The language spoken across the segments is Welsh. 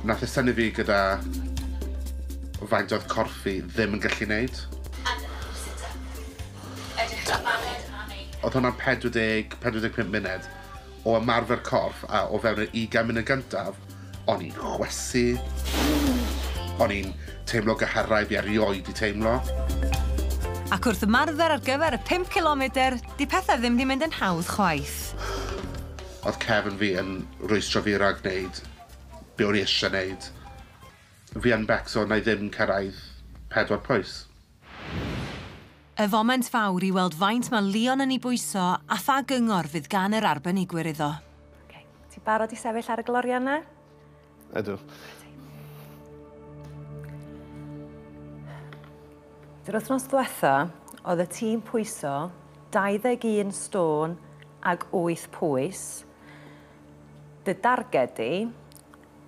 Nath e synnu fi gyda faint oedd corff fi ddim yn gallu neud. A dyna ni, sit up. Edrych ar baned a neud pethe. Oedd hwnna'n 40, 45 munud o ymarfer corff a o fewn yr ugain munud gyntaf, o'n i'n chwysu, o'n i'n teimlo gyhyrau fi erioed di teimlo. Ac wrth ymarfer ar gyfer y pump cilomedr, di pethe ddim di mynd yn hawdd chwaith. Oedd cefn fi yn rwystro fi rag neud Be o'n i eisiau wneud? Fi yn becso wna i ddim cyrraedd pedwar pwys. Y foment fawr i weld faint mae Leon yn ei bwyso a pha gyngor fydd gan yr arbenigwyr iddo. Ok, ti'n barod i sefyll ar y glorian 'na? Ydw. Yr wythnos dwetha, oedd y tîm pwyso 21 stôn ag wyth pwys. Dy darged di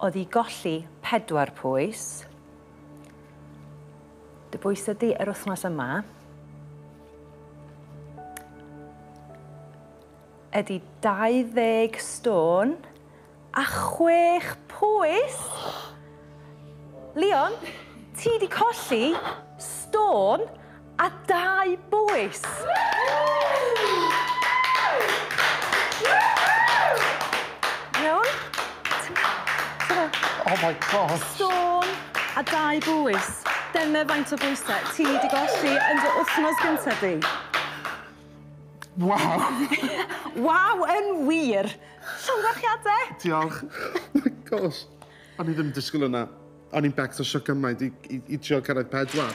oedd i golli pedwar pwys. Dy bwys ydi yr wythnos yma ydi 20 stôn a chwech pwys. Leon, ti di colli stôn A dau bwys! Iawn? Oh my gosh! Sôn a dau bwys. Dyna faint o bwysau ti wedi golli yn dy wythnos gyntaf di. Waw! Waw yn wir! Llongyfarchiadau! Diolch. Oh my gosh! O'n i ddim yn disgwyl hwnna. O'n i'n becso sio gymaint i, i, i trio cyrraedd pedwar.